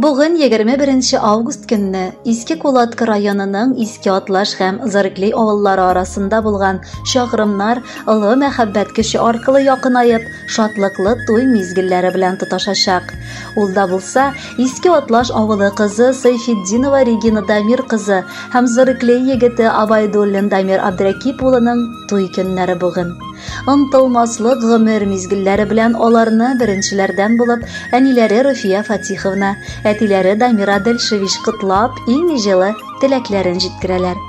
Бүген 21 август көнне Иске Кулаткы районының Иске Атлаш һәм Зарыкли авыллары арасында булган чакрымнар олы мәхәббәт көче аркылы якынаеп, шатлыклы туй мизгелләре белән тоташачак. Ул да булса, Иске Атлаш авылы кызы Сайфетдинова Регина Дамир кызы һәм Зарыкли егете Абайдуллин Дамир Абдракип улының туй көннәре бүген. Онтылмаслык гомер мизгелләре белән аларны беренчеләрдән булып әниләре Руфия Фатиховна, әтиләре Дамира Дельшевич котлап, иң җылы теләкләрен җиткерәләр.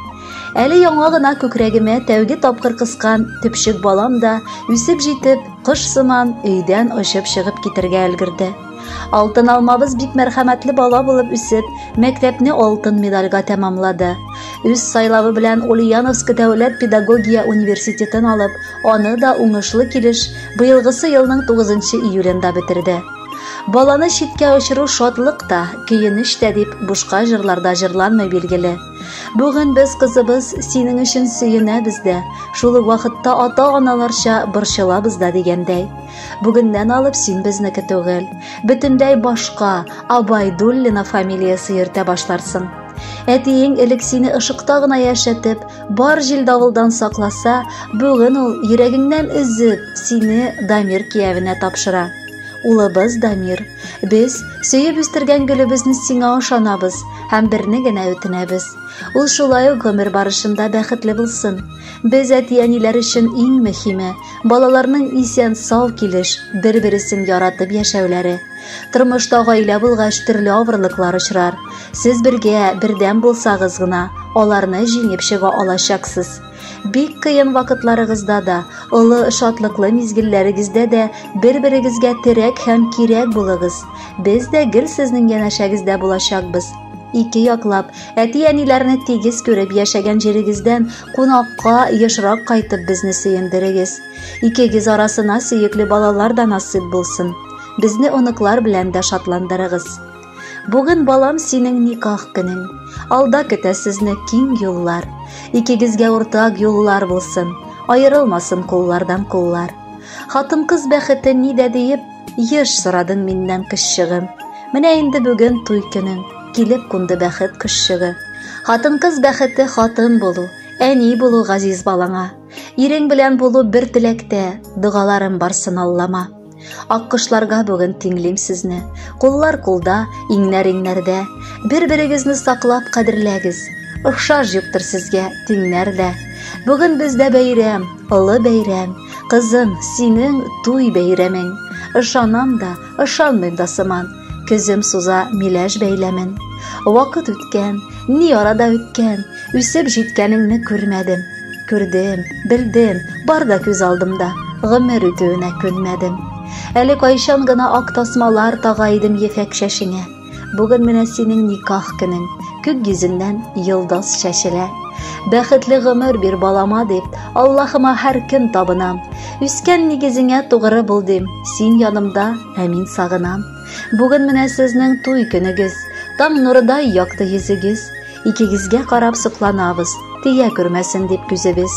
Әле яңа гына күкрәгемә тәүге тапкыр кыскан төпчек балам да, үсеп җитеп, кош сыман өйдән очып чыгып китергә өлгерде. Алтын алмабыз бик мәрхәмәтле бала булып үсеп, мәктәпне алтын медальгә тәмамлады. Үз сайлавы белән Ульяновск дәүләт педагогия университетын алып, аны да уңышлы килеш быелгысы елның 9 июлендә бетерде. Баланы читкә очыру шатлык та, көенеч тә дип бушка җырларда җырланмый билгеле. Бүген без кызыбыз синең өчен сөенәбез дә, шул ук вакытта ата-аналарча борчылабыз да дигәндәй. Бүгеннән алып син безнеке түгел. Бөтенләй башка Абайдуллина фамилиясе йөртә башларсың. Әтиең элек сине ышыкта гына яшәтеп, бар җил давылдан сакласа, бүген ул йөрәгеңнән өзеп, сине Дамир киявенә тапшыра. Улыбыз Дамир, без сөеп үстергән гөлебезне сиңа ышанабыз һәм берне генә үтенәбез. Ул шулай ук гомер барышында бәхетле булсын. Без әти-әниләр өчен иң мөһиме, Балаларның исән-сау килеш, бер-бересен яратып яшәүләре. Тормышта гаилә булгач, төрле авырлыклар очрар. Сез бергә, бердәм булсагыз гына, аларны җиңеп чыга алачаксыз. Бик кыен вакытларыгызда да, олы шатлыклы мизгелләрегездә дә бер-берегезгә терәк һәм кирәк булыгыз. Без дә гел сезнең янәшәгездә булачакбыз. Ике яклап, әти-әниләрне тигез күреп яшәгән җирегездән Кунакка ешрак кайтып безне сөендерегез. Икегез арасына сөекле балалар да насыйп булсын. Безне оныклар белән дә шатландырыгыз. Бүген балам синең никах көнең. Алда көтә сезне киң юллар. Икегезгә уртак юллар булсын. Аерылмасын куллардан куллар. Хатын-кыз бәхете нидә диеп Еш сорадың миннән кызчыгым, менә инде бүген туй көнең, килеп кунды бәхет кызчыгы. Хатын-кыз бәхете хатын булу, әни булу газиз балаңа. Ирең белән булу бер теләктә, догаларым барсын Аллама. Аккошларга бүген тиңлим сезне, куллар кулда, иңнәр иңнәрдә. Бер-берегезне саклап кадерләгез, охшаш юктыр сезгә тиңнәр дә. Бүген бездә бәйрәм, Олы бәйрәм, кызым, синең туй бәйрәмең. Ышанам да, ышанмыйм да сыман. Көзем суза миләш бәйләмен. Вакыт үткән, ни арада үткән, үсеп җиткәнеңне күрмәдем. Күрдем, белдем, бар да күз алдымда, гомер үтүенә күнмәдем. Әле кайчан гына ак тасмалар тага идем ефәк чәчеңә. Бүген менә синең никах көнең. Күк йөзеннән йолдыз чәчелә. Бәхетле гомер бир балама дип, Аллаһыма һәр көн табынам. Үскән нигезеңә тугры бул дим, син янымда, ә мин сагынам. Бүген менә сезнең туй көнегез, таң нурыдай якты йөзегез. Икегезгә карап сокланабыз, тия күрмәсен дип күзебез.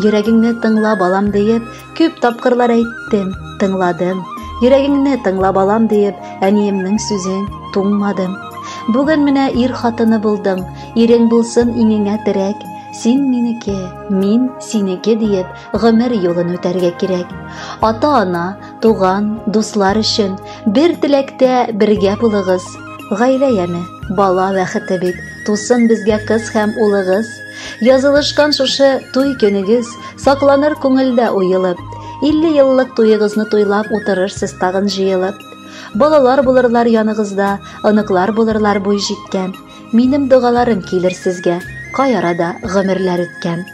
Йөрәгеңне тыңла, балам, диеп, Күп тапкырлар әйттем, тыңладым. Йөрәгеңне тыңла балам диеп, әниемнең сүзен туңмадым. Бүген менә ир хатыны булдым, ирең булсын иңеңә терәк. Син минеке, мин синеке диеп, гомер юлын үтәргә кирәк. Ата-ана, туган, дуслар өчен бер теләктә бергә булыгыз, Гаилә яме, бала бәхете бит, тусын безгә кыз һәм улыгыз. Язылышкан шушы туй көнегез сакланыр күңелдә уелып. 50 еллык туегызны туйлап утырырсыз тагын җыелып. Балалар булырлар яныгызда, оныклар булырлар буй җиткән. Минем догаларым килер сезгә, кай арада гомерләр үткән.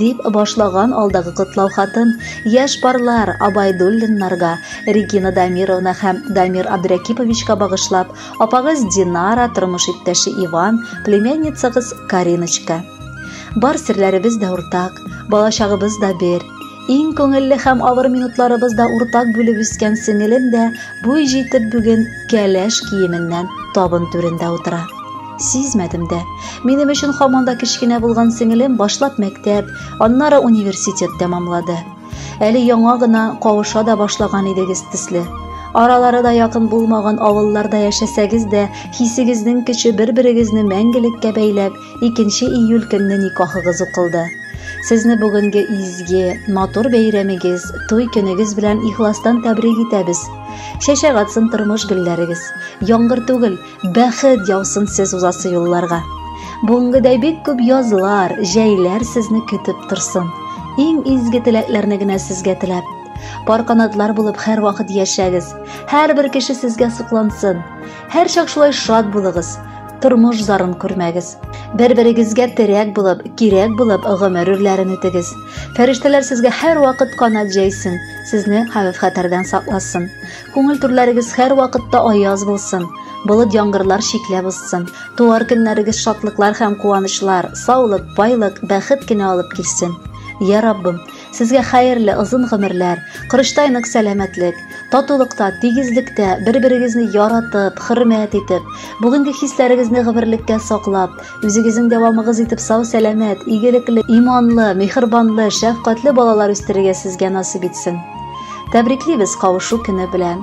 Дип башлаган алдагы котлау хатын яшь парлар Абайдуллиннарга, Регина Дамировна һәм Дамир Абдрәкиповичка багышлап, апагыз Динара, тормыш иптәше Иван, племянницагыз Кариночка. Бар серләребез дә уртак, балачагыбыз да бер. Иң күңелле һәм авыр минутларыбыз да уртак бүлеп үскән сеңелем дә буй җитеп бүген кәләш киеменнән табын түрендә утыра. Сизмәдем дә. Минем өчен һаман да кечкенә булган сеңелем башлап мәктәп, аннары университет тәмамлады. Әле яңа гына кавыша да башлаган идегез төсле. Аралары да якын булмаган авылларда яшәсәгез дә, хисегезнең көче бер-берегезне мәңгелеккә бәйләп, 2 июль көнне никахыгыз укылды. Сезне бүгенге изге, матур бәйрәмегез, туй көнегез белән ихластан тәбрик итәбез. Чәчәк атсын тормыш гөлләрегез. Яңгыр түгел, бәхет яусын сез узасы юлларга. Бүгенгедәй бик күп язлар, җәйләр сезне көтеп торсын. Иң изге теләкләрне генә сезгә теләп, пар канатлар булып һәрвакыт яшәгез. Һәрбер кеше сезгә соклансын. Һәр чак шулай шат булыгыз, тормыш зарын күрмәгез. Бер-берегезгә терәк булып, кирәк булып гомер үрләрен үтегез. Фәрештәләр сезгә һәр вакыт канат җәйсен, сезне хәвеф-хәтәрдән сакласын. Күңел түрләрегез һәр вакытта аяз булсын, болыт яңгырлар чикләп узсын. Туар көннәрегез шатлыклар һәм куанычлар, саулык, байлык, бәхет кенә алып килсен. Я Раббым, Сезгә хәерле озын гомерләр, корычтай нык сәламәтлек, татулыкта, тигезлектә, бер-берегезне яратып, хөрмәт итеп, бүгенге хисләрегезне гомерлеккә саклап, үзегезнең дәвамыгыз итеп сау-сәламәт, игелекле, иманлы, мехербанлы, шәфкатьле балалар үстерергә сезгә насыйп итсен. Тәбриклибез кавышу көне белән.